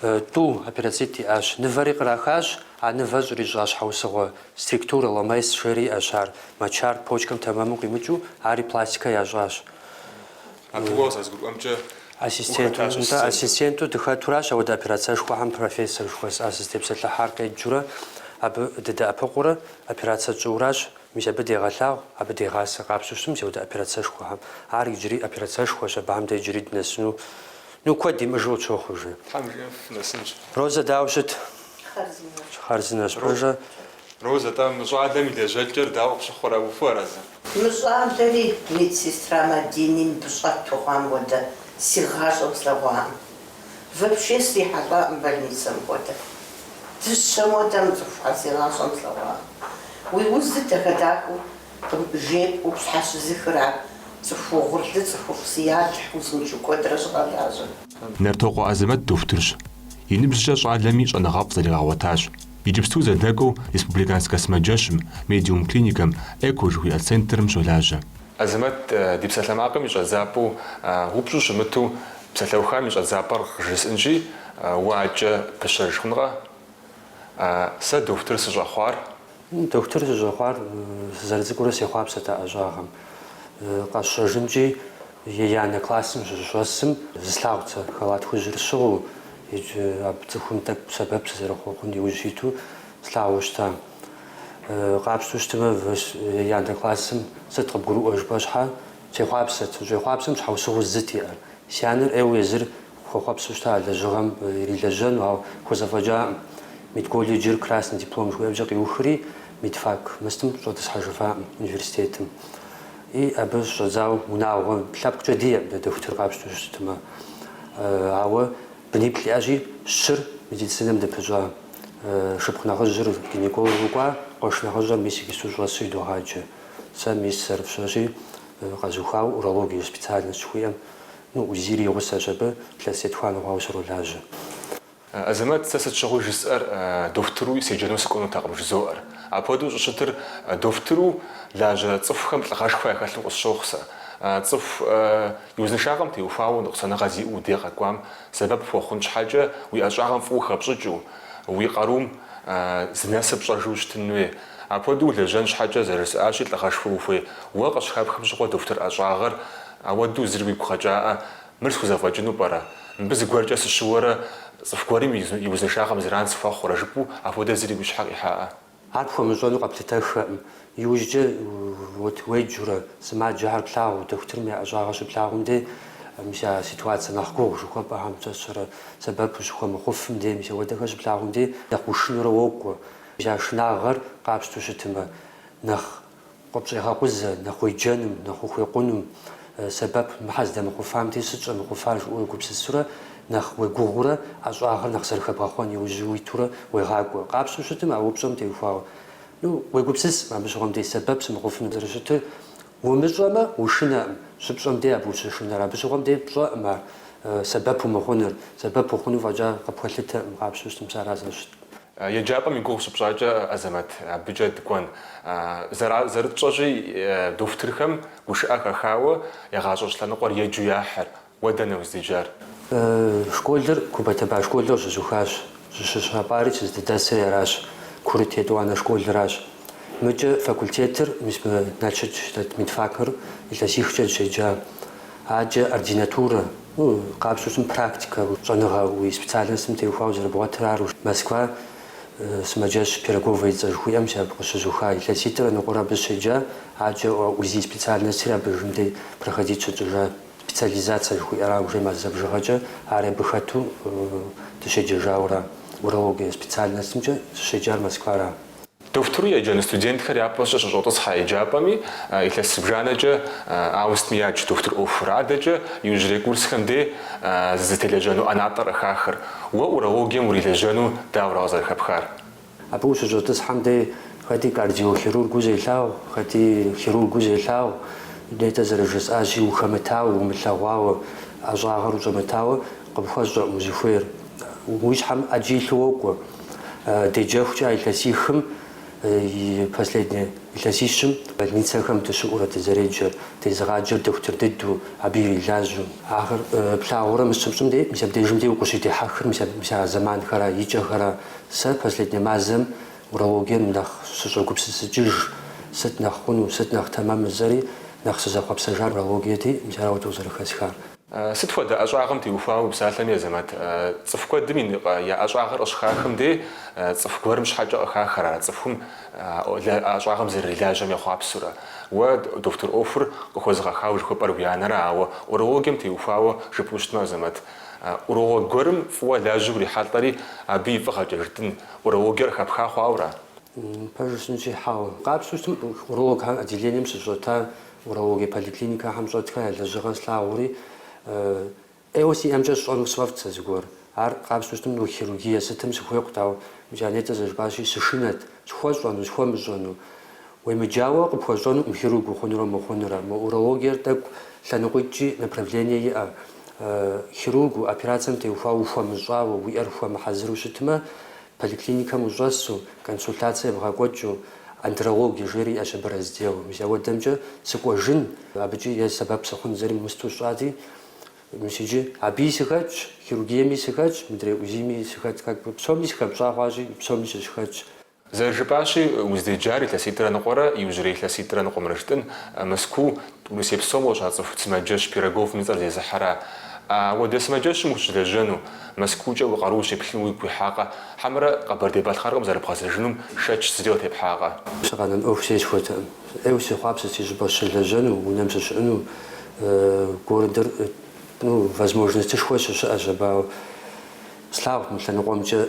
Тӏу, операцитӏ иӏащ. Мывэри кърахащ, а мывэр щӏрищӏа щхьэусыгъуэ стриктурэ, ЛМС жери иӏэщ ар, мочар почкэм тэмэму къимыкӏыу, ари пластикэ ящӏащ. Абы уэ къызэрызгурыӏуэмкӏэ Ассистент, ухэтащ нтӏэ, ассистенту. ассистенту дыхэтуращ ауэдэ операцэшхуэхэм профессор жыхуэсӏа сызытепсэлъыхьар къеджурэ, абы дыдэӏэпыкъуурэ, операцэ тщӏыуращ, мис абы дегъэлъагъу, абы дегъасэ къапщтэу щытмэ ауэдэ операцэшхуэхэм. Ар иджыри операцэшхуэщ, абыхэм дэ иджыри дынэсыну. Ну куэд имыӏэжу къытщохъу жи. Тхьэм жиӏэм фынэсынщ. Розэ дауэ щыт? Хъарзынэщ. Хъарзынэщ. Пэжыр? Розэ, тӏэ, мы щӏалэм и лэжьэкӏэр дауэ къыпщыхъурэ, ухуэарэзы? Мы щӏалэри медсестра Мадини мыбы щӏэту хъуам хуэдэ си гъащӏэм слъэгъуакъым. Вообще срихьэлӏакъым больницэм хуэдэ. Дыщэм хуэдэ мы цӏыхухэр си гъащӏэм слъэгъуакъым. Уи уз дыдэ хадакӏуэу Кым жеп упщхьэ щызыхыра цӏыху угъурлы цӏыхуфӏ си Алыхь узыншэу куэдрэ щӏигъэлажьэ. Нартокъуэ Азэмэт дохутырщ. И ныбжькӏэ щӏалэми щӏэныгъэфӏ зэригъэгъуэтащ. Иджыпсту зэдэкӏуэу Республиканскэ сымаджэщым, Медиум клиникэм, Эко жыхуиӏэ центрым щолажьэ. Азэмэт ди псалъэмакъым и щӏэдзапӏэу упщӏэу щымыту псалъэухам и щӏэдзапӏэр къыжысӏынщи, уэ адэкӏэ пыщэж хъункъэ? Сэ дохутыр сыщӏэхъуар Дохутыр сыщӏэхъуар сызэрыцӏыкӏуурэ сехъуапсэт а ӏэщӏагъэм. Къэсщӏэжынкӏи еянэ классым сыщыщӏэсым, зыслъагъут сэ халат хужьыр сщыгъыу иджы абы цӏыхум тӏэкӏу сэбэп сызэрыхъуэхъун иужь иту слъагъуу щыта. Къапщтэу щытмэ, еянэ классым сыт къыбгурыӏуэ жыпӏэ щхьэ, сехъуапсэт. Сыщӏехъуапсэм щхьэусыгъуэу зыт иӏэр. Си анэр ӏейуэ езыр Хуэхъуэпсу щыта а лэжьыгъэм ирилэжьэну, ауэ хуэзэфӏэкӏакъым. Медколледжыр красный диплом жыхуиӏэмкӏэ къиухри, медфак мыстым щӏэтӏысхьэжыфакъым университетым. И абы щыщӏэдзауэ унагъуэ лъэпкъкӏэ диӏэкъым дэ дохутыр къапщтэу щытмэ. Ауэ быниплӏ иӏэщи, щыр медицинэм дыпыщӏа шыпхъу нэхъыжьыр гинекологу кӏуа, къуэш нэхъыжьыр мис иджысту щӏэсу едогъаджэ. Сэ мис зэрыфщӏэщи, къэзухуауэ урология специальность жыхуиӏэм Ну, УЗИ-ри гъусэщ абы, илъэс етхуанэ хъуауэ сролажьэ. Азэмэт, сэ сыт щыгъуи жысӏэр дохутыру седжэну сыкӏуэнутэкъым жызоӏэр. Апхуэдэу щӏыщытыр дохутыру лажьэ цӏыхухэм лӏыгъэшхуэ яхэлъу къысщохъу сэ. Цӏыху и узыншагъэм теухуауэ ныкъусаныгъэ зиӏэу уи дей къэкӏуам сэбэп хуэхъун щхьэкӏэ уи ӏэщӏагъэм фӏыуэ хэпщӏыкӏыу, уи къарум зынэсыр пщӏэжу ущытын хуей. Апхуэдэу улэжьэн щхьэкӏэ зэрыжысӏащи лӏыгъэшхуэ ухуей. Уэ къыщыхэпхым щыгъуэ дохутыр ӏэщӏагъэр Ауэдэу зыри уигу къэкӏаӏэ, мыр схузэфӏэкӏыну пӏэрэ? Мыбы зыгуэркӏэ сыщыуэрэ цӏыху гуэрым и узыншагъэм зэран сыхуэхъурэ? жыпӏэу апхуэдэ зыри уи щхьэ къихьаӏэ? Ар пхуэмыщӏэну къэплъытэххэкъым. Иужькӏэ уэт уеджэурэ, сымаджэхэр плъагъуу, дохутырым я ӏэщӏагъэ щыплъагъум дей, мис а ситуацэ нэхъ гугъу жыхуэпӏэхэм пщӏэщэрэ сэбэпу щыхуэмыхъуфым дей, мис ауэдэхэр щыплъагъум дей, нэхъ ушынурэ уокӏуэ. Мис а шынагъэр къапщтэу щытымэ, нэхъ Къыпщӏегъэкъузэ, нэхъ уеджэным, нэхъ ухуекъуным, сэбэп мыхьэ здэмыхъуфам дей, сыт щӏэмыхъуфар жыпӏэу уегупсысурэ, нэхъ уегугъуурэ, ӏэщӏагъэр нэхъ зэрыхэбгъэхъуэн иужь уитурэ уегъакӏуэ. Къапщтэу щытым а упщӏэм теухуауэ, ну, уегупсысым, абы щыгъуэм дей сэбэп сымыхъуфыным зэрыщытыр умыщӏэмэ, ушынэкъым, щыпщӏэм дей абы ущышынэр, абы щыгъуэм дей пщӏэкъым ар сэбэп умыхъуныр, сэбэп ухъуну фӏэкӏа къыпхуэлъытэкъым, къапщтэу щытым сэ ара зэрыщытым. Еджапӏэм и гугъу щыпщӏакӏэ, Азэмэт, абыкӏэ дыкӏуэн. Зэра, зэрытщӏэщи, дохутырхэм гушыӏэ хэхауэ, я гъащӏэ щӏэлъэныкъуэр еджэу яхьыр. Уэ дэнэ уздэджар? Школыр Куба-Таба школыр къыщызухащ. Сызыщапӏари сыздэдэсри аращ, курыт етӏуанэ школыращ. Мыкӏэ факультетыр мис мы Налшык дэт медфакыр илъэсихкӏэ сыщеджа. Аджэ ординатурэ, Къапщу щытым практикэ щӏэныгъэ уи специальностым теухуауэ зэрыбгъуэтыр ару. Москва сымаджэщ Пироговэ и цӏэ жыхуиӏэм си абы къыщызуха илъэситӏрэ ныкъуэрэ абы сыщеджа, аджэ УЗИ специальностри абдежым дей проходить щытщӏыжа, специализация жыхуиӏэра, уже мазэ бжыгъэкӏэ ари абы хэту дыщеджэжауэра, урология специальностымкӏэ сыщеджар Москвара. Дохутыру еджэну студентхэр япэщӏэ щыщӏэтӏысхьэ еджапӏэми, илъэс зыбжанэкӏэ ауэ сытми ядж дохутыр ӏуэхур. Адэкӏэ иужьрей курсхэм дей зызытелэжьэну ӏэнатӏэр къыхахыр. Уэ урологием урилэжьэну дауэрэ къызэрыхэпхар? Абы ущыщӏэтӏысхьэм дей хэти кардиохирургыу зелъагъу, хэти хирургыу зелъагъу, нетӏэ зэрыжысӏащи, ухэмытауэ, умылъэгъуауэ, ӏэщӏагъэр ущӏэмытауэ, Къыпхуэщӏэкъым узыхуейр. Уи щхьэм ӏэджи илъу уокӏуэ. Деджэхукӏэ а илъэсихым, и последней илъэсищым, больницэхэм дыщыӏурэ дызэреджэр, дезыгъаджэр дохутыр дыдэу, абы ирилажьэу. Ахэр плъагъурэ мис щыпщӏым дей, мис абдежым дей укъыщыдехьэхыр, мис а, мис а зэманхэра, и кӏэхэра. Сэ последней мазэм урологием нэхъ сыщӏогупсысыкӏыж, сыт нэхъ хъуну, сыт нэхъ тэмэм жысӏэри, нэхъ сызэхъуэпсэжар урологиети, мис ара ауэдэу зэрыхэсхар. Сыт хуэдэ ӏэщӏагъэм теухуауэ упсалъэми, Азэмэт, цӏыху куэдым и я ӏэщӏагъэр къыщыхахым дей, цӏыху гуэрым щхьэкӏэ къыхахэр ара цӏыхум а ӏэщӏагъэм зэрырилажьэм ехъуапсэурэ? Уэ дохутыр ӏуэхур къыхуэзыгъэхауэ жыхуэпӏэр уи анэра, ауэ урологием теухуауэ жыпӏэу щытмэ, Азэмэт, уролог гуэрым фӏыуэ лажьэу урихьэлӏэри, абы и фӏыгъэкӏэ, жытӏэн, урологиер къыхэпха хъуауэра? Пэжу сынщӏихьауэ. Къапщтэу щытым, уролог отделением щыщӏэта Урологие поликлиникэхэм щӏэтхэ я лэжьыгъэр слъагъури, ӏейуэ си ӏэмкӏэ сщӏэну сфӏэфӏт сэ зыгуэр. Ар къапщтэу щытым, хирургие сытым сыхуейкъут, ауэ Жанетэ зэрыжыпӏащи, сышынэт, схуэщӏэну, схуэмыщӏэну. Уемыджауэ, къыпхуэщӏэнукъым хирург ухъунурэ мыхъунурэ. Мы урологиер тӏэкӏу лъэныкъуитӏкӏи направление иӏэ. Хирургыу операцэм теухуауэ ухуэмыщӏауэ, уи ӏэр хуэмыхьэзыру щытмэ, Поликлиникэм ущӏэсу, консультацие бгъэкӏуэкӏыу, андрологие жери иӏэщ абы раздел. Мис ауэдэмкӏэ сыкӏуэжын абыкӏи е сэбэп сыхъун зэрым мысту сщӏати, мис иджы абыи сыхэтщ, хирургиеми сыхэтщ, мыдрей УЗИ-ми сыхэтщ, как бы псоми сыхэпщӏа хъуащи, псоми сыщыхэтщ. Зэрыжыпӏащи, уздеджар илъэситӏрэ ныкъуэрэ, иужьрей илъэситӏрэ ныкъуэмрэ жытӏын, Мэзкуу, Урысей псом къыщацӏыху сымаджэщ Пироговым и цӏэр зезыхьэра? Ауэдэ сымаджэщым ущылэжьэну, Мэзкуукӏэ уи къару ущеплъыну уигу къихьакъэ? Хьэмэрэ Къэбэрдей-Балъкъэрым къызэрыбгъэзэжынум шэч зыри къытепхьакъэ? Сыкъэнэн ӏуэху зесхуэтэкъым. ӏейуэ сехъуапсэт си щӏыпӏэ сыщылэжьэну, унэм сыщыӏэну. Городыр, ну, возможностышхуэ щыщыӏэщ, абы ауэ. Слъагъут мы лъэныкъуэмкӏэ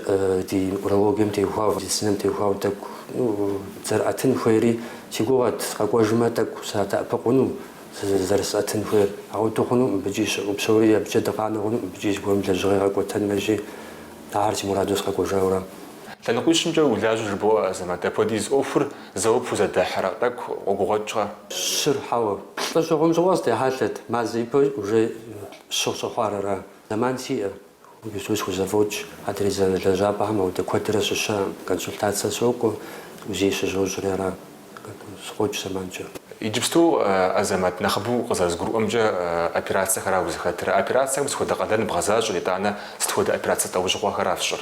ди урологием теухуауэ, медицинэм теухуауэ тӏэкӏу зэрыӏэтын хуейри. Си гугъэт, къэкӏуэжмэ, тӏэкӏу садэӏэпыкъуну зэрысӏэтын хуейр. Ауэду хъуну мыбыкӏи щыӏэу псори, абыкӏэ дыкъанэу хъуну мыбыкӏи зыгуэрым лэжьыгъэ къэкӏуэтэн мэжи. Ахэр си мурадуэ сыкъэкӏуэжауэ. Лъэныкъуищымкӏэ улажьэ жыбоӏэ, Азэмэт, апхуэдиз ӏуэхур зэуэ пхузэдыхьрэ, тӏэкӏу къогугъуэкӏрэ? Щыр, хьэуэ. Плӏы щыхъум щыгъуэ стехьэлъэт, мазэ ипэ уже щы щыхъуар ара, зэман сиӏэ. Иджыпсту схузэфӏокӏ адрей си лэжьапӏэхэм ауэдэ куэдрэ сыщыӏэкъым. Консультацэ сокӏуэ, УЗИ щызощӏри ара. Сыкъокӏ зэманкӏэ. Иджыпсту Азэмэт нэхъыбэу къызэрызгурыӏуэмкӏэ, операцэхэра узыхэтыр? А операцэхэм сыт хуэдэ къалэн бгъэзащӏэр, итӏанэ сыт хуэдэ операцэ лӏэужьыгъуэхэра фщӏыр?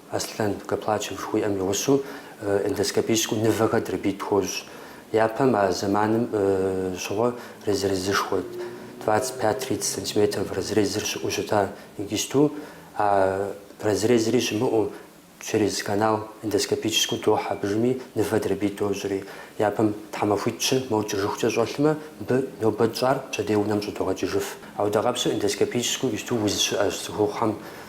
Аслъэн Гоплачев жыхуиӏэм и гъусэу эндоскопическэу нывэхэр дробить хуощӏ. Япэм а зэманым щыгъуэ разрезышхуэ, двадцать пять, тридцать сантиметров разрезыр щыӏэу щыта, игисту, а разрезри щымыӏэу, через канал эндоскопическэу дохь абыжми нывэ дробить дощӏри. Япэм тхьэмахуитӏ-щы мо кӏыжыхукӏэ щӏэлъмэ, мыбы нобэ тщӏар пщэдей унэм щӏыдогъэкӏыжыф. Ауэдэ къабзэу эндоскопическэу игисту уз щыӏэщ цӏыхухъухэм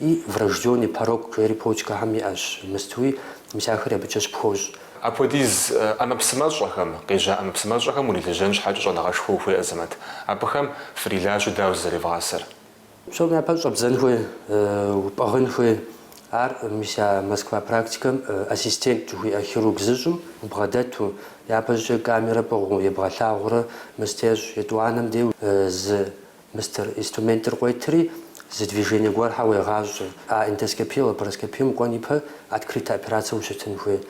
И врожденный порок жери почкэхэм иӏэщ, мыстуи мис ахэр абыкӏэ щыпхощӏ. Апхуэдиз ӏэмэпсымэщӏэхэм, къежьа ӏэмэпсымэщӏэхэм урилэжьэн щхьэкӏэ щӏэныгъэшхуэ ухуей Азэмэт? Абыхэм фрилажьэу дауэ зызэревгъасэр? Псом япэ щӏэбдзэн хуей, упӏыгъын хуей. Ар мис а Москва практикэм ассистент жыхуиӏэ хирург зыщӏым убгъэдэту, япэщӏыкӏэ камерэ пӏыгъыу ебгъэлъагъуурэ мысту ещӏ, етӏуанэм деу зы Мыстыр инструментыр къуетри, зы движение гуэрхьэ уегъащӏэ, а эндоскопие лапароскопием кӏуэн ипэ открытэ операцэ ущытын хуей.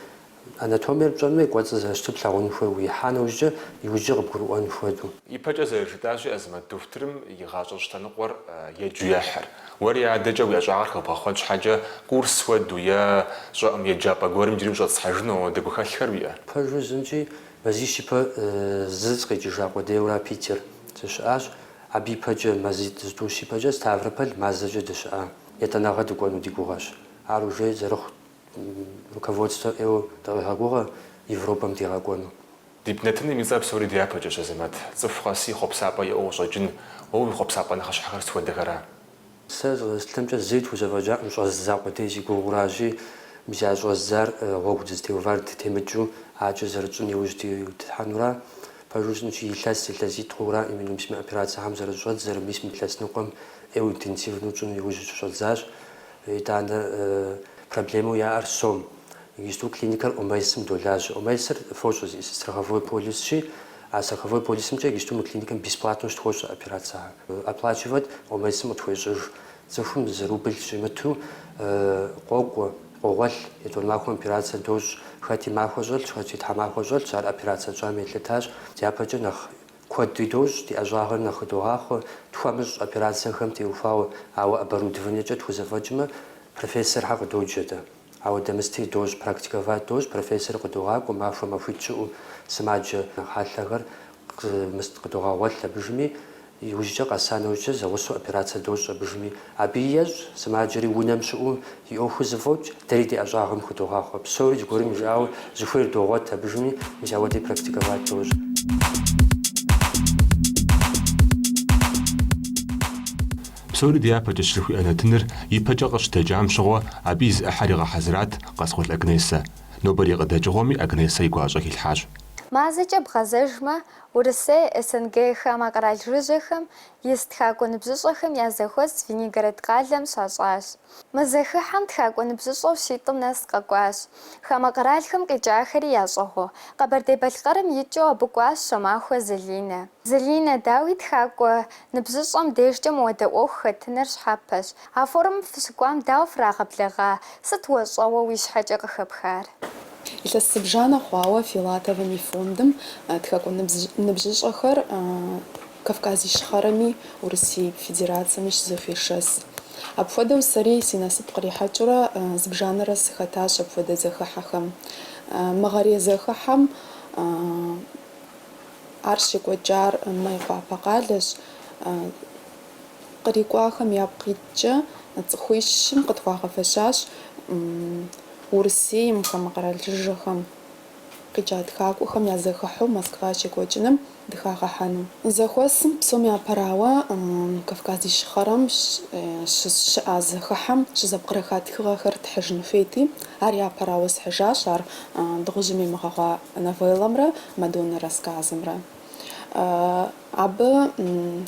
Анатомиер пщӏэн хуей, кӏуэцӏыр зэрыщытыр плъагъун хуей уихьа нэужькӏэ, иужькӏэ къыбгурыӏуэн хуэдэу. Ипэкӏэ зэрыжытӏащи, Азэмэт дохутырым и гъащӏэ щытэныкъуэр еджэу ехьыр. Уэри адэкӏэ уи ӏэщӏагъэр хэбгъэхъуэн щхьэкӏэ, курс хуэдэу е щӏэӏум еджапӏэ гуэрым иджыри ущӏэтӏысхьэжыну ауэдэ гухэлъхэр уиӏэ? Пэжу жысӏэнщи Мазищ ипэ зы сыкъикӏыжа къудейуэра Питер сыщыӏащ. Абы ипэкӏэ, мазитӏ зытӏущ ипэкӏэ, Ставрополь мазэкӏэ дыщыӏа етӏанэгъэ дыкӏуэну ди гугъэщ. Ар уже зэрыхъу руководствэ ӏейуэ дыкъегъэгугъэ Европэм дигъэкӏуэну. Ди нэтыным и цӏэр псори дяпэкӏэщ, Азэмэт. Цӏыху къэси хъуэпсапӏэ иӏэу къыщӏэкӏын, уэ уи хъуэпсапӏэ нэхъыщхьэхэр сыт хуэдэхэра? Сэ къызэрыслъытэмкӏэ зыри тхузэфӏэкӏакъым щӏэздза къудей си гугъэуращи, мис а щӏэздзар гъуэгу дызытеувар дытемыкӏыу, адэкӏэ зэрытщӏын иужь дитхьэнура? Пэжу жысӏэнщи, илъэс, илъэситӏ хъуура, минимум сыми операцэхэм зэрыщӏэдз, зэры мис мы илъэс ныкъуэм ӏейуэ интенсивнэу тщӏыну иужь щыщӏэдзащ. Итӏанэ, проблемэу яӏэр сом. Иджыпсту клиникэр ОМС-м долажьэ. ОМС-р фощӏэ зы страховой полисщи, а страховой полисымкӏэ иджыпсту мы клиникэм бесплатнэу щытхуощӏ операцэхэр. Оплачивэт ОМС-м къытхуещӏыж. Цӏыхум зы рубль щӏимыту къокӏуэ, къогъуэлъ, етӏуанэ махуэм операцэ дощӏ. Хэти махуэ щӏэлъщ, хэти тхьэмахуэ щӏэлъщ, ар операцэ тщӏам елъытащ. Дяпэкӏэ нэхъ куэдри дощӏ, ди ӏэщӏагъэм нэхъ хыдогъахъуэ, тхуэмыщӏ операцэхэм теухуауэ. Ауэ оборудованиекӏэ тхузэфӏэкӏмэ, профессорхэр къыдоджэ дэ. Ауэдэ мыстри дощӏ, практиковать дощӏ, профессорыр къыдогъакӏуэ, махуэ махуитӏ щыӏэу сымаджэ хьэлъэхэр къымыст къыдогъэгъуэлъ абыжми, иужькӏэ къэса нэужькӏэ зэгъусэу операцэ дощӏ абыжми. Абы ещӏ, сымаджэри унэм щыӏэу и ӏуэхур зэфӏокӏ, дэри ди ӏэщӏагъэм хыдогъахъуэ. Псори зыгуэрым жиӏауэ зыхуейр догъуэт абыжми, мис ауэдэи практиковать дощӏ. Псори дяпэкӏэ щрыхуиӏэ нэтыныр ипэкӏэ къыщыдэкӏам щыгъуэ абы и зы ӏыхьэр игъэхьэзырат Къаскъул Агнесэ. Нобэрей къыдэкӏыгъуэми Агнесэ и гуащӏэ хилъхьащ. Мазэкӏэ бгъэзэжмэ, Урысей, СНГ, хамэ къэрал жыжьэхэм ис тхакӏуэ ныбжьыщӏэхэм я зэхуэс Звенигород къалэм щащӏащ. Мы зэхыхьэм тхакӏуэ ныбжьыщӏэу щитӏым нэс къэкӏуащ. Хамэ къэралхэм къикӏахэри ящӏыгъуу, Къэбэрдей-Балъкъэрым икӏыу абы кӏуащ Щомахуэ Залинэ. Залинэ, дауи, тхакӏуэ ныбжьыщӏэм дежкӏэ мыуэдэ ӏуэху хэтыныр щхьэпэщ. А форумым фыщыкӏуам дауэ фрагъэблэгъа, сыт уэ щӏэуэ уи щхьэкӏэ къыхэпхар? Илъэс зыбжанэ хъуауэ Филатовым и фондым тхакӏуэ ныбжьыщӏэхэр Кавказ Ищхъэрэми Урысей Федерацэми щызэхуешэс. Апхуэдэу сэри си насып кърихьэкӏыурэ зыбжанэрэ сыхэтащ апхуэдэ зэхыхьэхэм. Мыгъэрей зэхыхьэм ар щекӏуэкӏар Майкъуапэ къалэщ. Кърикӏуахэм япкъ иткӏэ цӏыхуищым къытхуагъэфэщащ Урысейм хамэ къэрал жыжьэхэм. Къикӏа тхакӏуэхэм я зэхыхьэу Москва щекӏуэкӏыным дыхагъэхьэну. Зэхуэсым псом япэрауэ Кавказ Ищхъэрэм щыщыӏа зэхыхьэм щызэпкърыха тхыгъэхэр тхьыжын хуейти, ар япэрауэ схьыжащ ар Дыгъужьым имыгъэгъуа новеллэмрэ Мадоннэ рассказымрэ. Абы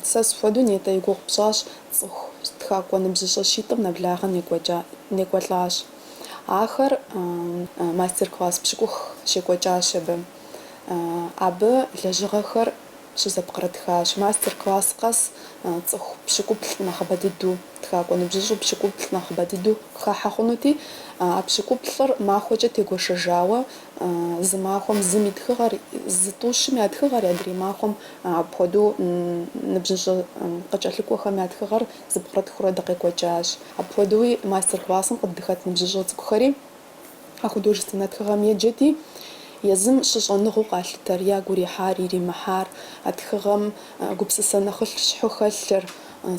сэ схуэдэу нетӏэ и гугъу пщӏащ цӏыху тхакӏуэ ныбжьыщӏэ щитӏым нэблагъэ некӏуэлӏащ. Ахэр мастер-класс пщыкӏух щекӏуэкӏащ абы. Абы лэжьыгъэхэр щызэпкърытхащ. Мастер-класс къэс цӏыху пщыкӏуплӏ нэхъыбэ дыдэу, тхакӏуэ ныбжьыщӏу пщыкӏуплӏ нэхъыбэ дыдэу хахьэ хъунути, а пщыкӏуплӏыр махуэкӏэ тегуэшэжауэ, зы махуэм зым и тхыгъэр, зы тӏущым я тхыгъэр, адрей махуэм апхуэдэу ныбжьыщӏэ къыкӏэлъыкӏуэхэм я тхыгъэр зэпкърытхыурэ дыкъекӏуэкӏащ. Апхуэдэуи мастер-классым къыддыхэт ныбжьыщӏэ цӏыкӏухэри а художественнэ тхыгъэм еджэти, езым щыщӏэныгъэу къалъытэр, ягу ирихьар, иримыхьар, а тхыгъэм гупсысэ нэхъыщхьэу хэлъыр,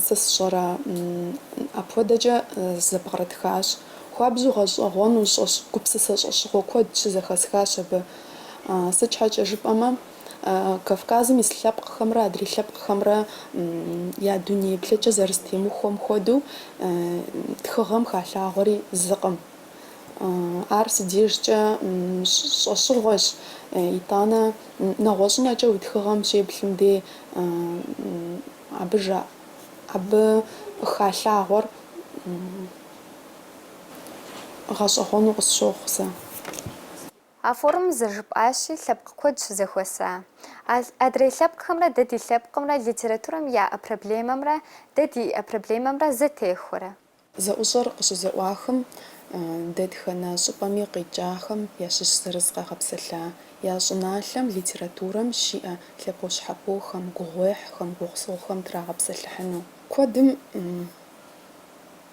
сэ сщӏэрэ, апхуэдэкӏэ зэпкърытхащ. Хуабжьу гъэщӏэгъуэну щӏэщ, гупсысэ щӏэщыгъуэ куэд щызэхэсхащ абы. Сыт щхьэкӏэ жыпӏэмэ, Кавказым ис лъэпкъхэмрэ адрей лъэпкъхэмрэ я дуней еплъыкӏэ зэрызэтемыхуэм хуэдэу, тхыгъэм халъагъуэри зыкъым. Ар си дежкӏэ щӏэщыгъуэщ, итӏанэ нэгъуэщӏынэкӏэ уи тхыгъэм щеплъым дей абы абы халъагъуэр гъэщӏэгъуэну къысщохъу сэ. А форумым зэрыжыпӏащи, лъэпкъ куэд щызэхуэса. А адрей лъэпкъхэмрэ дэ ди лъэпкъымрэ литературэм яӏэ проблемэмрэ дэ диӏэ проблемэмрэ зэтехуэрэ? Зэӏущӏэр къыщызэӏуахым, дэтхэнэ щӏыпӏэми къикӏахэм ящыщ зырыз къагъэпсэлъа я щӏыналъэм литературэм щиӏэ лъэпощхьэпохэм, гугъуехьхэм, гугъусыгъухэм трагъэпсэлъыхьыну. Куэдым.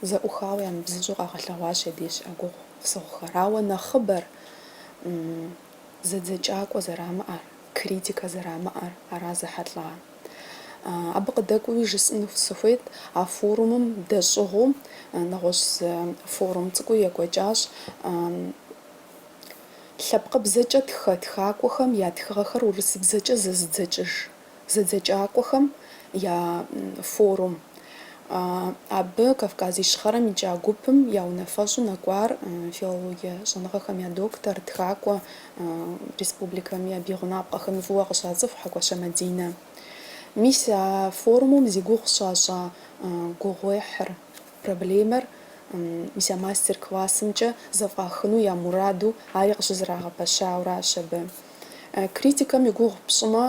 Зэӏухауэ ямыбзыщӏу къагъэлъэгъуащ я деж щыӏэ гугъусыгъухэр. Ауэ нэхъыбэр зэдзэкӏакӏуэ зэрамыӏэр, критикэ зэрамыӏэр ара зэхьэлӏа. Абы къыдэкӏуэуи жысӏэну сыхуейт, а форумым дэщӏыгъуу нэгъуэщӏ зы форум цӏыкӏуи екӏуэкӏащ, лъэпкъыбзэкӏэ тхэ тхакӏуэхэм я тхыгъэхэр урысыбзэкӏэ зэзыдзэкӏыж. зэдзэкӏакӏуэхэм я форум. Абы Кавказ Ищхъэрэм икӏа гупым я унафэщӏу нэкӏуар филологие щӏэныгъэхэм я доктор, тхакӏуэ, республикэми абы и гъунапкъэхэми фӏыуэ къыщацӏыху Хьэкӏуащэ Мадинэ. Мис а форумым зи гугъу щащӏа гугъуехьыр, проблемэр мис а мастер-классымкӏэ зэфӏахыну я мураду ари къыщызэрагъэпэщауращ абы. Критикэм и гугъу пщӏымэ,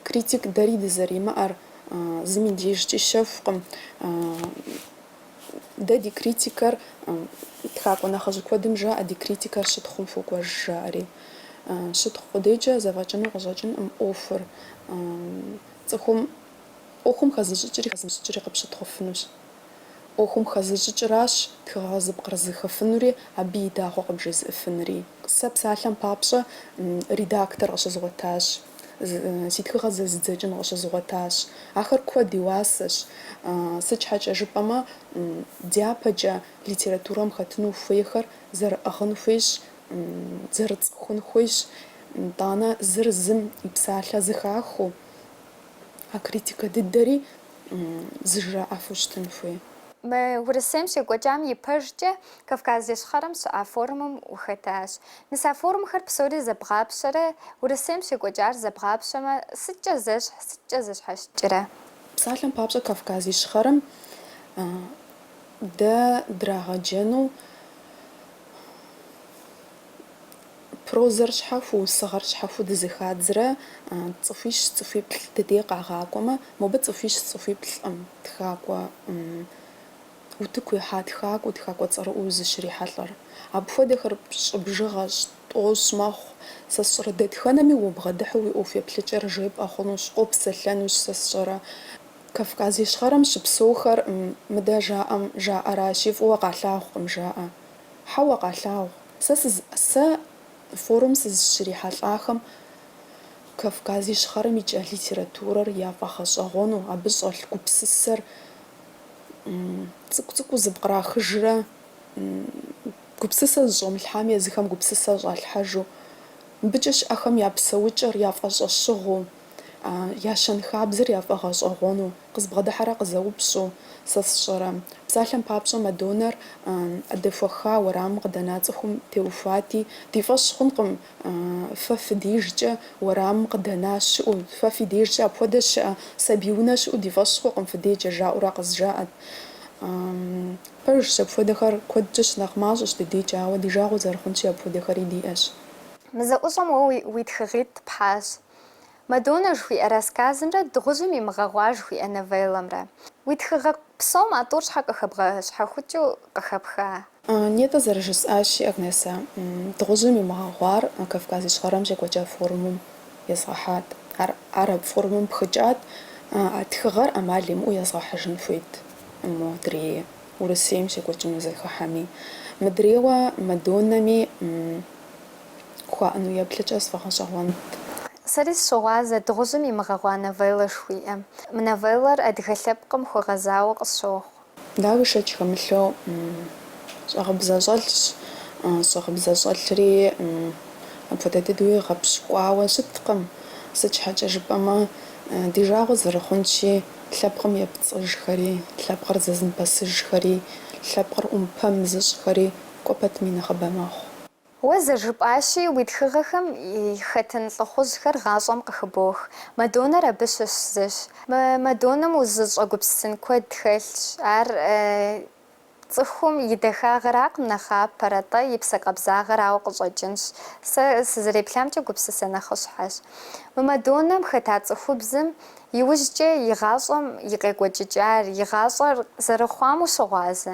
критик дэри дызэримыӏэр зыми дежкӏи щэхукъым. Дэ ди критикэр тхакӏуэ нэхъыжь куэдым жаӏэ ди критикэр щытхъум хуокӏуэж жаӏэри. Щытхъу къудейкӏэ зэфӏэкӏыну къыщӏэкӏынкъым ӏуэхур. Цӏыхум ӏуэхум хэзыщӏыкӏри хэзымыщӏыкӏри къыпщытхъуфынущ. ӏуэхум хэзыщӏыкӏыращ тхыгъэ зыпкърызыхыфынури абы и дагъуэ къыбжезыӏэфынури. Сэ псалъэм папщӏэ редактор къыщызгъуэтащ, си тхыгъэр зэзыдзэкӏын къыщызгъуэтащ. Ахэр куэд и уасэщ. Сыт щхьэкӏэ жыпӏэмэ, дяпэкӏэ литературэм хэтыну хуейхэр зэрыӏыгъын хуейщ, зэрыцӏыхун хуейщ. Итӏанэ зыр зым и псалъэ зыхахыу, а критикэ дыдэри зыжраӏэфу щытын хуей. Мы Урысейм щекӏуэкӏам и пэжкӏэ Кавказ Ищхъэрэм щыӏа форумым ухэтащ. Мис а форумхэр псори зэбгъапщэрэ, Урысейм щекӏуэкӏар зэбгъапщэмэ, сыткӏэ зэщхь, сыткӏэ зэщхьэщыкӏрэ? Псалъэм папщӏэ, Кавказ Ищхъэрэм дэ драгъэджэну Прозэр щхьэхуэу, усыгъэр щхьэхуэу дызыхадзрэ цӏыхуищ цӏыхуиплӏ дыдей къагъакӏуэмэ, мобы цӏыхуищ цӏыхуиплӏкъым тхакӏуэ утыку ихьа тхакӏуэу, тхакӏуэ цӏэрыӏуэу узыщрихьэлӏэр. Апхуэдэхэр пщӏы бжыгъэщ, тӏощӏ мэхъу. Сэ сщӏэрэ дэтхэнэми убгъэдыхьэу уи ӏуэху еплъыкӏэр жепӏэ хъунущ, къопсэлъэнущ, сэ сщӏэрэ. Кавказ Ищхъэрэм щыпсэухэр мыдэ жаӏэм жаӏэращи, фӏыуэ къалъагъукъым жаӏэ. Хьэуэ, къалъагъу. Сэ сыз сэ форум сызыщрихьэлӏахэм Кавказ Ищхъэрэм икӏа литературэр яфӏэгъэщӏэгъуэну, абы щӏэлъ гупсысэр цӏыкӏу цӏыкӏуу зыпкърахыжрэ гупсысэ зыщӏомылъхьам езыхэм гупсысэ щӏалъхьэжу, мыбыкӏэ щыӏэхэм я псэукӏэр, яфӏэщӏэщыгъуу, Я щэнхабзэр яфӏэгъэщӏэгъуэну, къызбгъэдыхьэрэ къызэупщӏу, сэ сщӏэрэ? Псалъэм папщӏэ, Мадоннэр дэхуэха уэрамым къыдэна цӏыхум теухуати, Ди фӏэщ хъункъым, фэ фи дежкӏэ уэрамым къыдэна щыӏэу, фэ фи дежкӏэ апхуэдэ щыӏэ сабий унэ щыӏэу ди фӏэщ хъукъым фи дежкӏэ, жаӏэурэ къызжаӏэт. Пэжщ, апхуэдэхэр куэдкӏэ щынэхъ мащӏэщ ди дежкӏэ, ауэ ди жагъуэ зэрыхъунщи, апхуэдэхэри диӏэщ. Мы зэӏущӏэм уэ уи тхыгъитӏ пхьащ. Мадонна жыхуиӏэ рассказымрэ Дыгъужьым и мыгъэгъуар жыхуиӏэ новеллэмрэ. Уи тхыгъэ псом а тӏур щхьэ къыхэбгъэщхьэхукӏыу къыхэпха? Нетӏэ зэрыжысӏащи, Агнесэ, Дыгъужьым и мыгъэгъуар Кавказ Ищхъэрэм щекӏуэкӏа форумым езгъэхьат. Ар ар абы форумым пхыкӏат, а тхыгъэр ӏэмал имыӏэу езгъэхьыжын хуейт модрее Урысейм щекӏуэкӏыну зэхыхьэми. Мыдрейуэ Мадоннэми. хуаӏэну еплъыкӏэ сфӏэгъэщӏэгъуэнт. Сэри сыщыгъуазэщ Дыгъужьым и мыгъэгъуа новеллэ жыхуиӏэм. Мы новеллэр адыгэ лъэпкъым хуэгъэзауэ къысщохъу. Дауи шэч хэмылъу щӏагъыбзэ щӏэлъщ, щӏагъыбзэ щӏэлъри апхуэдэ дыдэуи гъэпщкӏуауэ щыткъым, сыт щхьэкӏэ жыпӏэмэ, ди жагъуэ зэрыхъунщи, лъэпкъым епцӏыжхэри, лъэпкъыр зэзымыпэсыжхэри, лъэпкъыр ӏумпэм зыщӏхэри кӏуэ пэтми нэхъыбэ мэхъу. Уэ зэрыжыпӏащи, уи тхыгъэхэм хэтын лӏыхъужьхэр гъащӏэм къыхыбох. Мадоннэр абы щыщ зыщ. Мы Мадоннэм узыщӏэгупсысын куэд хэлъщ. Ар цӏыхум и дахагъэракъым нэхъапэр, атӏэ и псэ къабзагъэрауэ къыщӏэкӏынщ. Сэ сызэреплъамкӏэ гупсысэ нэхъыщхьэщ. Мы Мадоннэм хэта цӏыхубзым иужькӏэ и гъащӏэм и къекӏуэкӏыкӏар, и гъащӏэр зэрыхъуам ущыгъуазэ.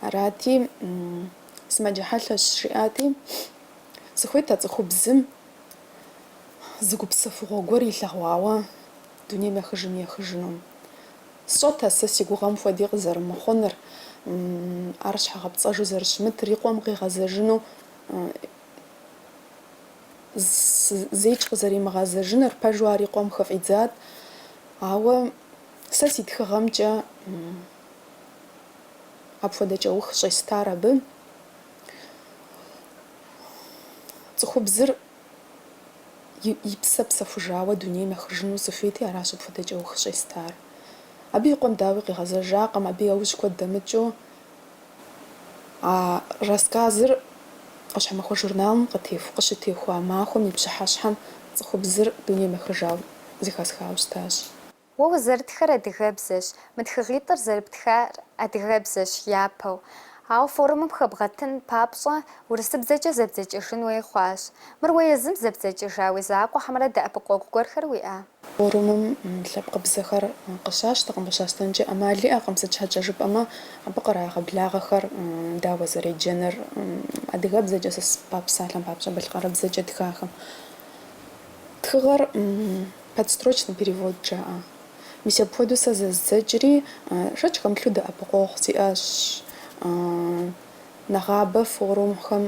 Арати, сымаджэ хьэлъэщ, жиӏати, сыхуейт а цӏыхубзым зы гупсэфыгъуэ гуэр илъэгъуауэ дунейм ехыжын ехыжыну. Сщӏэт а сэ си гугъэм хуэди къызэрымыхъуныр, ар щхьэгъэпцӏэжу зэрыщымытыр, и къуэм къигъэзэжыну, зейкӏ къызэримыгъэзэжыныр, пэжу ар и къуэм хыфӏидзат. Ауэ сэ си тхыгъэмкӏэ. Апхуэдэ кӏэух щӏестар абы. Цӏыхубзыр и псэ псэхужауэ дунейм ехыжыну сыхуейти, аращ апхуэдэ кӏэух щӏестар. Абы и къуэм дауи къигъэзэжакъым, абы яужь куэд дэмыкӏыу а рассказыр ӏуащхьэмахуэ журналым къытеху, къыщытехуа махуэм и пщыхьэщхьэм цӏыхубзыр дунейм ехыжауэ зэхэсхауэ щытащ. Уэ узэрытхэр адыгэбзэщ, мы тхыгъитӏыр зэрыптхар адыгэбзэщ япэу. Ауэ форумым хэбгъэтын папщӏэ урысыбзэкӏэ зэбдзэкӏыжын хуей хъуащ. Мыр уэ езым зэбдзэкӏыжа уи закъуэ хьэмэрэ дэӏэпыкъуэгу гуэрхэр уиӏа? Форумым лъэпкъыбзэхэр къыщащтэкъым, къыщащтэнкӏэ ӏэмал иӏэкъым, сыт щхьэкӏэ жыпӏэмэ абы кърагъэблагъэхэр дауэ зэреджэныр адыгэбзэкӏэ, сэ сы па псалъэм папщӏэ балъкъэрыбзэкӏэ тхахэм. Тхыгъэр. Подстрочный перевод жаӏэ. Мис апхуэдэу сэ зэздзэкӏри, шэч хэмылъу дэӏэпыкъуэгъу сиӏэщ. Нэгъабэ форумхэм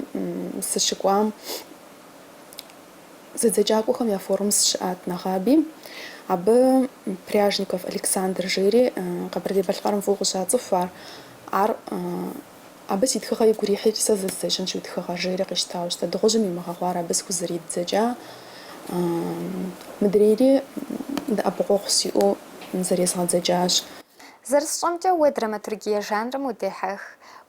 сыщыкӏуам зэдзэкӏакӏуэхэм я форум сыщыӏат нэгъаби. Абы Пряжников Александр жери Къэбэрдей-Балъкъэрым фӏыуэ къыщацӏыху ар. Ар Абы си тхыгъэ игу ирихьи, сэ зэздзэкӏынщ уи тхыгъэр, жери къищтауэ щыта. Дыгъужьым имыгъэгъуар абы схузэридзэкӏа мыдрейри дэӏэпыкъуэгъу сиӏэу зэрезгъэдзэкӏащ. Зэрысщӏэмкӏэ, уэ драматургие жанрым удехьэх.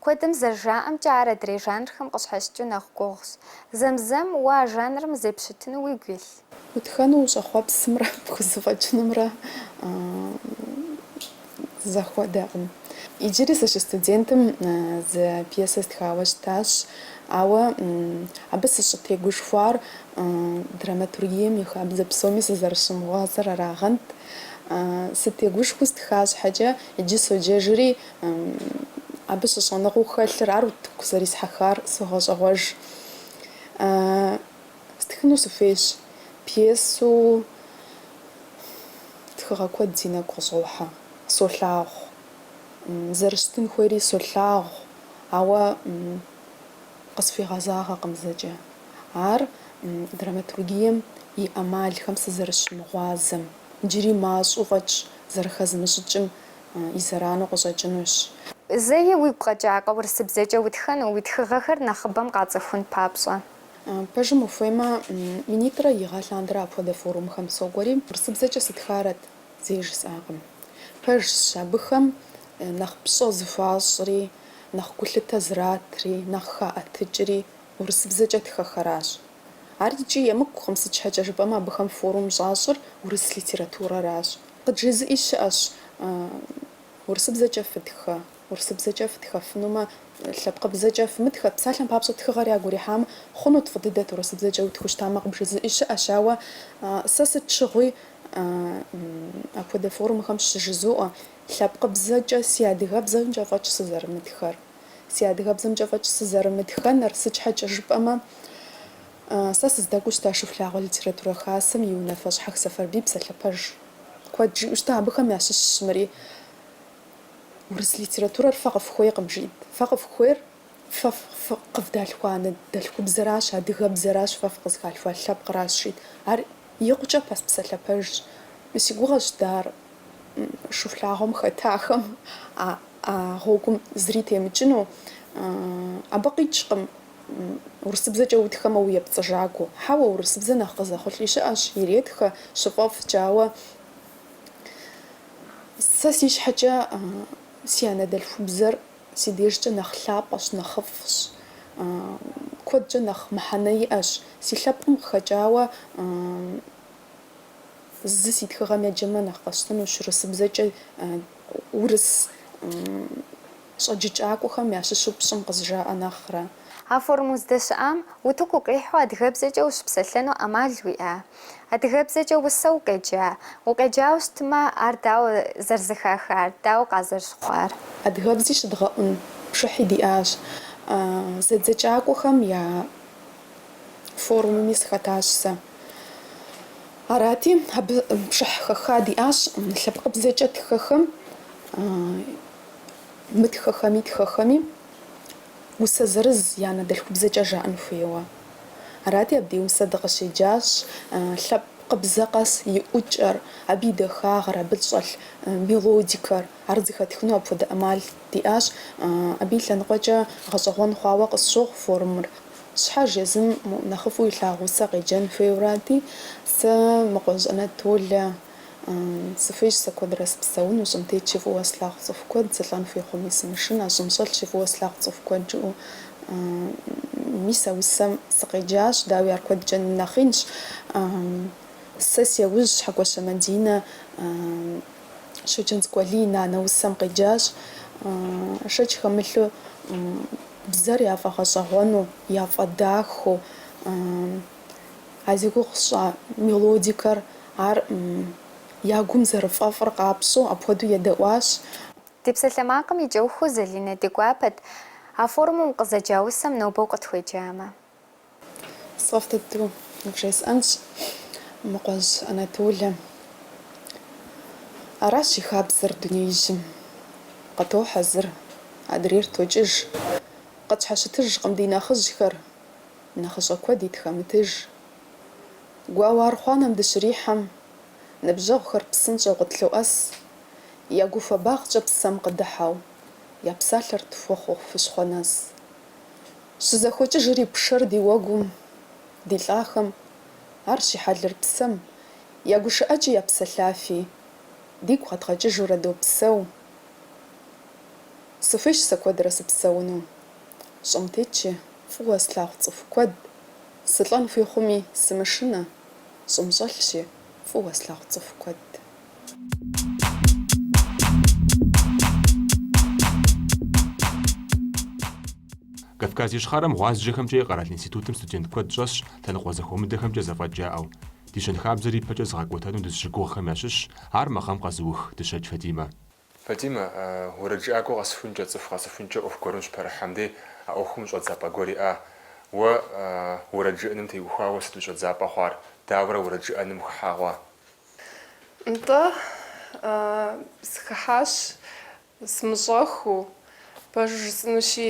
Куэдым зэрыжаӏэмкӏэ, ар адрей жанрхэм къыщхьэщыкӏыу нэхъ гугъущ. Зэм-зэм, уэ а жанрым зеппщытыну уигу илъ? Утхэну ущӏэхъуэпсымрэ пхузэфӏэкӏынумрэ зэхуэдэкъым. Иджыри сыщыстудентым зы пьесэ стхауэ щытащ, ауэ абы сыщӏытегушхуар драматургием и хабзэ псоми сызэрыщымыгъуазэр арагъэнт. Сытегушхуэу стха щхьэкӏэ, иджы соджэжри, абы щыщӏэныгъэу хэлъыр, ар утыку зэрисхьэхар согъэщӏэгъуэж. Стхыну сыхуейщ. Пьесэу тхыгъэ куэд си нэгу къыщӏохьэ. Солъагъу. Зэрыщытын хуейри солъагъу, ауэ къысхуигъэзагъэкъым зэкӏэ. Ар драматургием и ӏэмалхэм сызэрыщымыгъуазэм, иджыри мащӏэу фӏэкӏ зэрыхэзмыщӏыкӏым и зэранэу къыщӏэкӏынущ. Зэи уигу къэкӏакъэ урысыбзэкӏэ утхэну, уи тхыгъэхэр нэхъыбэм къацӏыхун папщӏэ? Пэжым ухуеймэ, минитӏрэ и гъэ лъандэрэ апхуэдэ форумхэм сокӏуэри, урысыбзэкӏэ сытхарэт зэи жысӏакъым. Пэжщ абыхэм нэхъ пщӏэ зыхуащӏри, нэхъ гулъытэ зратри, нэхъ хаӏэтыкӏри урысыбзэкӏэ тхэхэращ. Ар икӏи емыкӏукъым, сыт щхьэкӏэ жыпӏэмэ абыхэм форум щӏащӏыр урыс литературэращ. Къыджезыӏи щыӏэщ урысыбзэкӏэ фытхэ Урысыбзэкӏэ фытхэфынумэ, лъэпкъыбзэкӏэ фымытхэ, псалъэм папщӏэ тхыгъэр ягу ирихьам, хъунут фӏы дыдэт урысыбзэкӏэ утху щытамэ къыбжезыӏи щыӏэщ, ауэ сэ сыт щыгъуи апхуэдэ форумхэм щыжызоӏэ, лъэпкъыбзэкӏэ си адыгэбзэмкӏэ фӏэкӏ сызэрымытхэр, си адыгэбзэмкӏэ фӏэкӏ сызэрымытхэнур, сыт щхьэкӏэ жыпӏэмэ, сэ сыздэкӏуэу щыта Шыхулъагъуэ литературэ хасэм и унафэщӏ Хьэх Сэфарбий псалъэ пэж куэд жиӏэу щыта, абыхэм ящыщщ мыри. Урыс литературэр фэ къыфхуейкъым, жиӏт. Фэ къыфхуейр фэ къывдалъхуа анэдэлъхубзэращ, адыгэбзэращ, фэ фыкъызхалъхуа лъэпкъращ, жиӏт. Ар икъукӏэ пас псалъэ пэжщ. Си гугъэщ дэ ар Шыхулъагъуэм хэтахэм а гъуэгум зыри темыкӏыну. Абы къикӏкъым урысыбзэкӏэ утхэмэ уепцӏыжакӏуэу. Хьэуэ, урысыбзэ нэхъ къызэхъулӏи щыӏэщ, иретхэ, щыфӏэфӏкӏэ, ауэ Сэ си щхьэкӏэ си анэдэлъхубзэр си дежкӏэ нэхъ лъапӏэщ, нэхъыфӏщ, куэдкӏэ нэхъ мыхьэнэ иӏэщ. Си лъэпкъым къыхэкӏауэ зы си тхыгъэм еджэмэ нэхъ къэсщтэнущ, урысыбзэкӏэ урыс. щӏэджыкӏакӏуэхэм ящыщу пщӏым къызжаӏэ нэхърэ. А форум уздэщыӏам утыку укъихьэу адыгэбзэкӏэ ущыпсэлъэну ӏэмал уиӏа? Адыгэбзэкӏэ усэ укъеджа? Укъеджауэ щытмэ, ар дауэ зэрызэхахар, дауэ къазэрыщыхъуар? Адыгэбзи щыдгъэӏун пшыхьи диӏащ. Зэдзэкӏакӏуэхэм я форумми сыхэтащ сэ. Арати, абы пшыхь хэха диӏащ лъэпкъыбзэкӏэ тхэхэм. Мытхэхэми тхэхэми усэ зырыз я анэдэлъхубзэкӏэ жаӏэн хуейуэ. Арати, абдей усэ дыкъыщеджащ, лъэпкъыбзэ къэс и ӏукӏэр, абы и дахагъэр, абы щӏэлъ мелодикэр. Ар зыхэтхыну апхуэдэ ӏэмал диӏащ. Абы и лъэныкъуэкӏэ гъэщӏэгъуэн хъуауэ къысщохъу форумыр. Щхьэж езым нэхъыфӏу илъагъу усэ къеджэн хуейуэрати, сэ Мыкъуэжь Анатолэ Сыхуейщ сэ куэдрэ сыпсэуну, щӏым тетщи фӏыуэ слъагъу цӏыху куэд, сылӏэн хуей хъуми сымышынэ, щӏым щӏэлъщи фӏыуэ слъагъу цӏыху куэд жиӏэу. Мис а усэм сыкъеджащ, дауи ар куэдкӏэ нэхъинщ. Сэ си яужь Хьэкӏуащэ Мадинэ Щоджэнцӏыкӏу Алий и Нанэ усэм къеджащ. Шэч хэмылъу бзэр яфӏэгъэщӏэгъуэну, яфӏэдахэу. а зи гугъу сщӏа мелодикэр, ар я гум зэрыфӏэфӏыр къапщӏэу апхуэдэу едэӏуащ. Ди псалъэмакъым и кӏэухыу Залинэ ди гуапэт, а форумым укъызэджа усэм нобэ укъытхуеджамэ. Сфӏэфӏ дыдэу вжесӏэнщ, Мыкъуэжь Анатолэ. Аращ и хабзэр дунеижьым. Къытохьэ зыр, адрейр токӏыж. Къытщхьэщытыжкъым ди нэхъыжьхэр. Нэхъыщӏэ куэди тхэмытыж. Гуауэ архъуанэм дыщрихьэм, ныбжьэгъухэр псынщӏэу къытлъоӏэс, я гуфэбагъкӏэ псэм къыдыхьэу, я псалъэр тхуэхъуу хущхъуэ нэс. Щызэхуэкӏыжри пшэр ди уэгум, ди лӏахэм, ар щихьэлыр псэм, я гушыӏэкӏи я псэлъафи, дигу къэдгъэкӏыжурэ допсэу. Сыхуейщ сэ куэдрэ сыпсэуну. Щӏым тетщи, фӏыуэ слъагъу цӏыху куэд, сылӏэн хуей хъуми, сымышынэ. Щӏым щӏэлъщи, фӏыуэ слъагъу цӏыху куэд. Кавказ Ищхъэрэм гъуазджэхэмкӏэ и къэрал институтым студент куэд щӏэсщ лъэныкъуэ зэхуэмыдэхэмкӏэ зэфӏэкӏ яӏэу. Ди щэнхабзэр ипэкӏэ зыгъэкӏуэтэну дызыщыгугъхэм ящыщщ ар мы гъэм къэзыух Дыщэкӏ Фатимэ. Фатимэ, уэрэджыӏакӏуэ къэсыхункӏэ, цӏыху къэсыхункӏэ ӏуэху гуэрым щыпэрыхьэм дей а ӏуэхум щӏэдзапӏэ гуэр иӏа? Уэ уэрэджыӏэным теухуауэ сыт уи щӏэдзапӏэ хъуар? Дауэрэ уэрэджыӏэным ухыхьа хъуа? Нтӏэ, сыхыхьащ сымыщӏэхуу. Пэжу жысӏэнущи,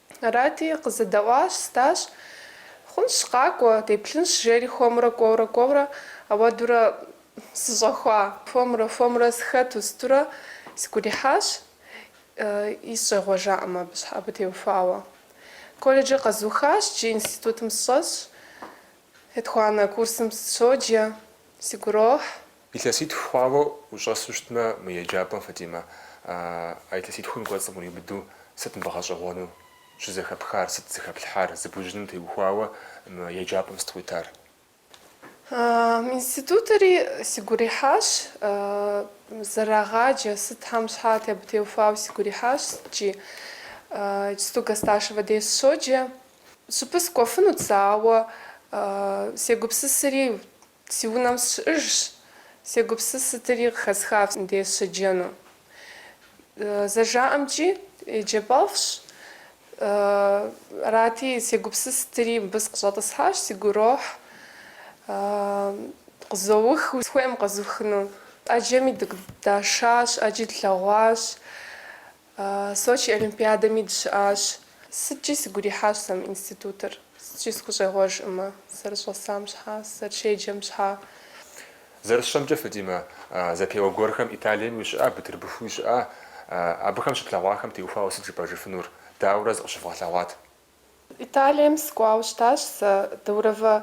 Арати, къызэдэӏуащ, сытащ. Хъунщ, къакӏуэ, деплъынщ, жери хуэмурэ кӏуэурэ кӏуэурэ ауэдурэ сыщӏэхуа. Хуэмурэ хуэмурэ сыхэту сытурэ сигу ирихьащ, и сыщӏегъуэжакъым абы щхьэ, абы теухуауэ. Колледжыр къэзухащ, джы институтым сыщӏэсщ, етхуанэ курсым сыщоджэ, сигу ирохь. Илъэситху хъуауэ ущӏэсу щытмэ мы еджапӏэм, Фатимэ, а илъэситхум кӏуэцӏым къриубыдэу сыт мыбы гъэщӏэгъуэну щызэхэпхар, сыт зыхэплъхьар, зыбужьыным теухуауэ мы еджапӏэм сыт къуитар? Институтри сигу ирихьащ, зэрырагъаджэ, сытхэм щхьа, абы теухуауэ сигу ирихьащ, сыткӏи. Иджысту Гасташевэ деж сыщоджэ. Щӏыпӏэ сыкӏуэфынут сэ, ауэ сегупсысри, Си унэм сыщыӏэжщ, сегупсыс сытыри къыхэсхащ мыбдей сыщеджэну. Зэжаӏэмкӏи, еджапӏэфӏщ. Арати, сегупсыс сытыри мыбы сыкъыщӏэтӏысхьащ, сигу ирохь, къызоух, сыхуейкъым къэзухыну. ӏэджэми дыкъыдашащ, ӏэджи длъэгъуащ. Сочи олимпиадэми дыщыӏащ. Сыткӏи сигу ирихьащ сэ мы институтыр. Сыткӏи сыхущӏегъуэжкъымэ, сызэрыщӏэсам щхьа, сызэрыщеджэм щхьа. Зэрысщӏэмкӏэ, Фатимэ, зэпеуэ гуэрхэм Италием ущыӏа, Бытырбыху ущыӏа, абыхэм щыплъэгъуахэм теухуауэ сыт жыпӏэжыфынур? Дауэрэ зыкъыщывгъэлъэгъуат. Италием сыкӏуауэ щытащ сэ, Даурова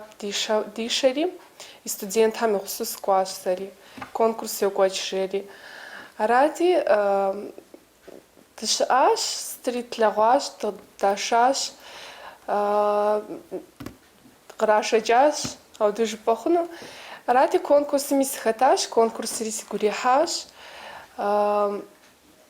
дишэри, и студентхэм ихъусу сыкӏуащ сэри, конкурс йокӏуэкӏ жери. Арати, дыщыӏащ, сытри тлъэгъуащ, дашащ, кърашэкӏащ, ауэдэ жыпӏэ хъуну. Арати, конкурсми сыхэтащ, конкурсри сигу ирихьащ.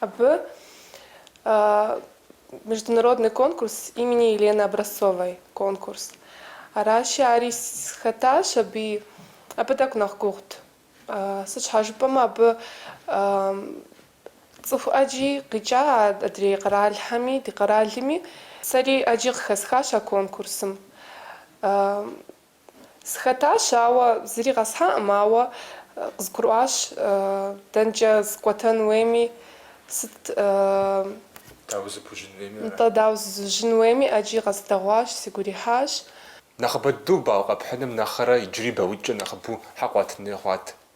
Абы международный конкурс имени Елены Образцовой конкурс. Аращи, ари схэтащ абы, абы тӏэкӏу нэхъ гугъут. Сыт щхьэ жыпӏэмэ, абы цӏыху ӏэджи къикӏа адрей къэралхэми, ди къэралми. Сэри ӏэджи къыхэсхащ а конкурсым. Схэтащ, ауэ зыри къэсхьаӏым, ауэ къызгурыӏуащ, дэнкӏэ сыкӏуэтэн хуейми, сыт. Дауэ зыпужьын хуейми ара? Нтӏэ, дауэ зызужьын хуейми, ӏэджи къэзыдэгъуащ, сигу ирихьащ. Нэхъыбэдэу балл къэпхьыным нэхърэ иджыри баллитӏкӏэ нэхъыбэу хьэ къуатын хуей хъуат?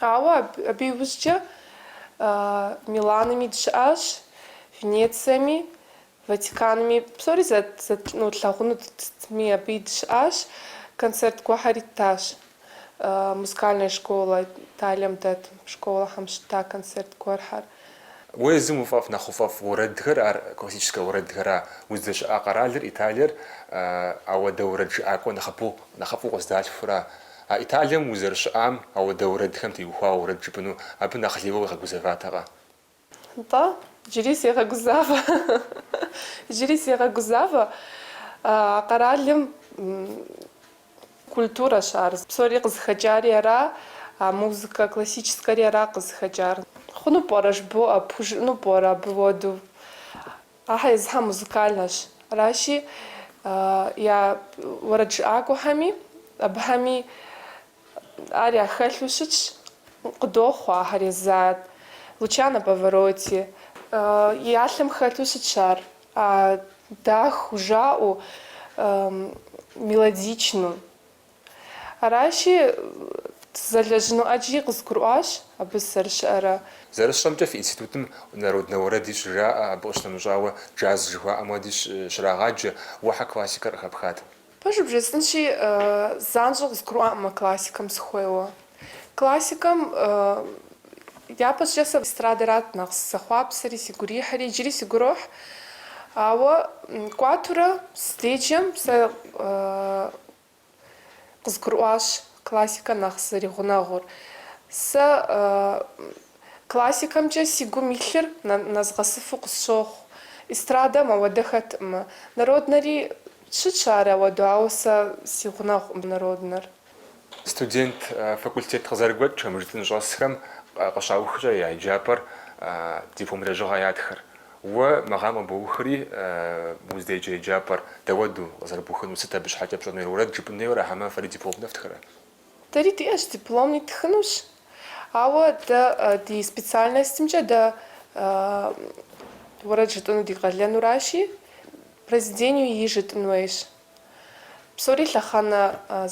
Ауэ абы иужькӏэ Милаными дыщыӏащ, Венециеми, Ватиканми, псори зэтлъэгъунутми абыи дыщыӏащ, концерт гуэхьэри ттащ. Музыкальная школа, Италием дэт школэхэм щытта концерт гуэрхэр. Уэ езым уфӏэфӏ нэхъ уфӏэфӏ уэрэдхэр, ар классическэ уэрэдхэра, уздэщыӏа къэралыр, Италиер, ауэдэ уэрэд жыӏакӏуэ нэхъыфӏу, нэхъыфӏу къыздалъхура? А Италием узэрыщыӏам ауэдэ уэрэдхэм теухуауэ уэрэд жыпӏэну абы нэхъ лейуэ укъигъэгузэватэкъэ? Нтӏэ, джыри сегъэгузавэ. Джыри сегъэгузавэ. А къэралым культурэщ ар. Псори къызыхэкӏари ара, а музыкэ классическэри ара къызыхэкӏар. Хъуну пӏэрэ жыбоӏэ, пхужыӏэну пӏэрэ абы уэду? Ахьэ езыхьэ музыкальнэщ. Аращи, я уэрэд жыӏакӏуэхэми абыхэми ар яхэлъу щытщ, къыдохъуэ ахэр езы, Лучано Паваротти. Я лъым хэлъу щытщ ар, дахэу жаӏэу, мелодичнэу. Аращи, сызэлэжьыну ӏэджи къызгурыӏуащ абы сызэрыщыӏэрэ. Зэрысщӏэмкӏэ, фи институтым народнэ уэрэди щыжаӏэ, абы къыщынэмыщӏауэ джаз жыхуаӏэм уэди щрагъаджэ, уэ хьэ классикэр къыхэпхат? Пэжу бжесӏэнщи, занщӏэу къызгурыӏуаӏым а классикэм сыхуейуэ. Классикэм япэщӏыкӏэ сэ эстрадэрат нэхъ сызэхъуапсэри, сигу ирихьри, иджыри сигу ирохь. Ауэ кӏуатурэ сыздеджэм сэ Къызгурыӏуащ классикэ нэхъ зэригъунэгъур. Сэ классикэмкӏэ си гум илъыр нэзгъэсыфу къысщохъу. Эстрадэм ауэдэ хэтӏымэ. Народнэри щытщ ар ауэду, ауэ сэ си гъунэгъукъым народнэр. Студент факультет къызэрыгуэкӏхэм жытӏын щӏэсхэм къыщаухкӏэ я еджапӏэр диплом лэжьыгъэ ятхэр. Уэ мы гъэм къыбоухри, уздеджэ еджапӏэр дэуэду къызэрыбухынур сыт, абы щхьэкӏэ пщӏэнур уэрэд жыпӏын хуейуэ ара, хьэмэ фэри дипломнэ фтхырэ? Дэри диӏэщ, дипломни ттхынущ, ауэ дэ ди специальностымкӏэ дэ уэрэд жытӏыну ди къалэнуращи, произведениеу и жытӏын хуейщ. Псори лъэхъэнэ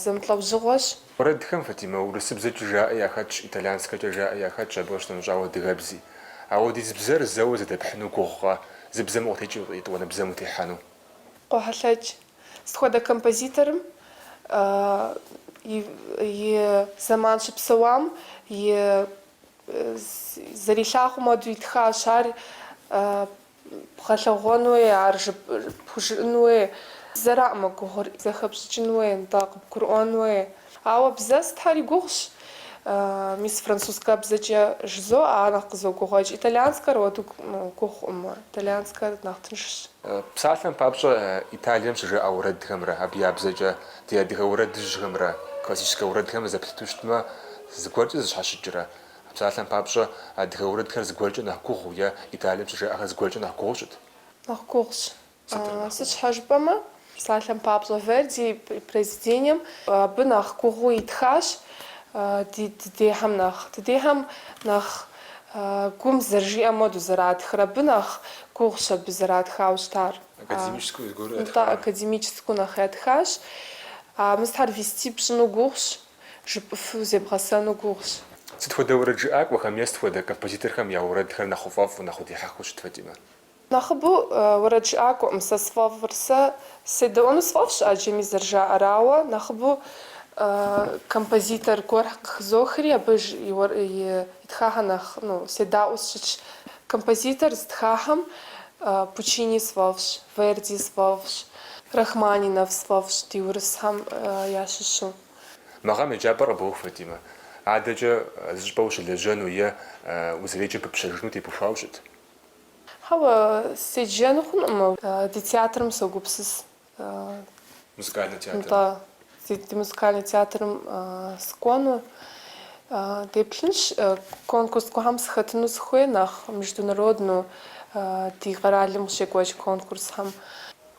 зэмылӏэужьыгъуэщ. Уэрэдхэм Фатимэ урысыбзэкӏэ жаӏэ яхэтщ, итальянскэкӏэ жаӏэ яхэтщ, абы къыщынэмыщӏауэ адыгэбзи. Ауэдиз бзэр зэуэ зэдэпхьыну гугъукъэ, зы бзэм укъытекӏыу етӏуанэ бзэм утехьэну? Къохьэлъэкӏ. Сыт хуэдэ композиторым и зэман щыпсэуам и зэрилъагъум хуэдэу итхащ ар. Бгъэлъэгъуэн хуей, ар жып пхужыӏэн хуей, бзэраӏымэ гугъур, зэхэпщӏыкӏын хуей, нтӏэ, къыбгурыӏуэн хуей. Ауэ бзэ сытхэри гугъущ. Мис французскэ бзэкӏэ жызоӏэ, ар нэхъ къызогугъуэкӏ. Итальянскэр уэду гугъуӏымэ, итальянскэр нэхъ тыншщ. Псалъэм папщӏэ, Италием щыжаӏэ уэрэдхэмрэ абы я бзэкӏэ ди адыгэ уэрэдыжьхэмрэ классическэ уэрэдхэмрэ зэплъыту щытмэ, зыгуэркӏэ зыщхьэщыкӏрэ? А псалъэм папщӏэ, адыгэ уэрэдхэр зыгуэркӏэ нэхъ гугъу е Италием щыжаӏэхэр зыгуэркӏэ нэхъ гугъу щыт? Нэхъ гугъущ. Сытыр нэхъ гугъу? Сыт щхьэ жыпӏэмэ, псалъэм папщӏэ, Верди и произведением абы нэхъ гугъуу итхащ ди дыдейхэм нэхъ. Дыдейхэм нэхъ гум зэрыжиӏэм хуэдэу зэратхыр, абы нэхъ гугъущ абы зэратхауэ щытар. Академическэу зыгуэру ятхауэ? Нтӏэ, академическэу нэхъ ятхащ. Мы сытхэр вести пщӏыну гугъущ. Жыпӏыфу зебгъэсэну гугъущ. Сыт хуэдэ уэрэд жыӏакӏуэхэм е сыт хуэдэ композиторхэм я уэрэдхэр нэхъ уфӏэфӏу, нэхъ удихьэхыу щыт Фатимэ? Нэхъыбэу уэрэд жыӏакӏуэкъым сэ сфӏэфӏыр. Сэ седэӏуэну сфӏэфӏщ ӏэджэми зэрыжаӏэр, ауэ нэхъыбэу композитор гуэр къыхызохри абы итхахэр нэхъ седаӏуэу сщытщ. Композитор зытхахэм Пуччини сфӏэфӏщ, Верди сфӏэфӏщ, Рахманинов сфӏэфӏщ ди урысхэм ящыщу. Мы гъэм еджапӏэр къыбоух, Фатимэ. Адэкӏэ зыщӏыпӏэ ущылэжьэну е узэреджэм пыпщэжыну тепыхуауэ щыт? Хьэуэ, седжэну хъункъым. Ди театрым согупсыс. Музыкальный театрым. Нтӏэ, ди музыкальный театрым сыкӏуэну. Деплъынщ конкурс гуэрхэм сыхэтыну сыхуей, нэхъ международнэу ди къэралым къыщекӏуэкӏ конкурсхэм.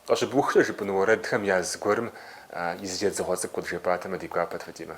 Къыщыбухкӏэ жыпӏэну уэрэдхэм я зыгуэрым и зы едзыгъуэ цӏыкӏу къыджепӏатэмэ ди гуапэт Фатимэ.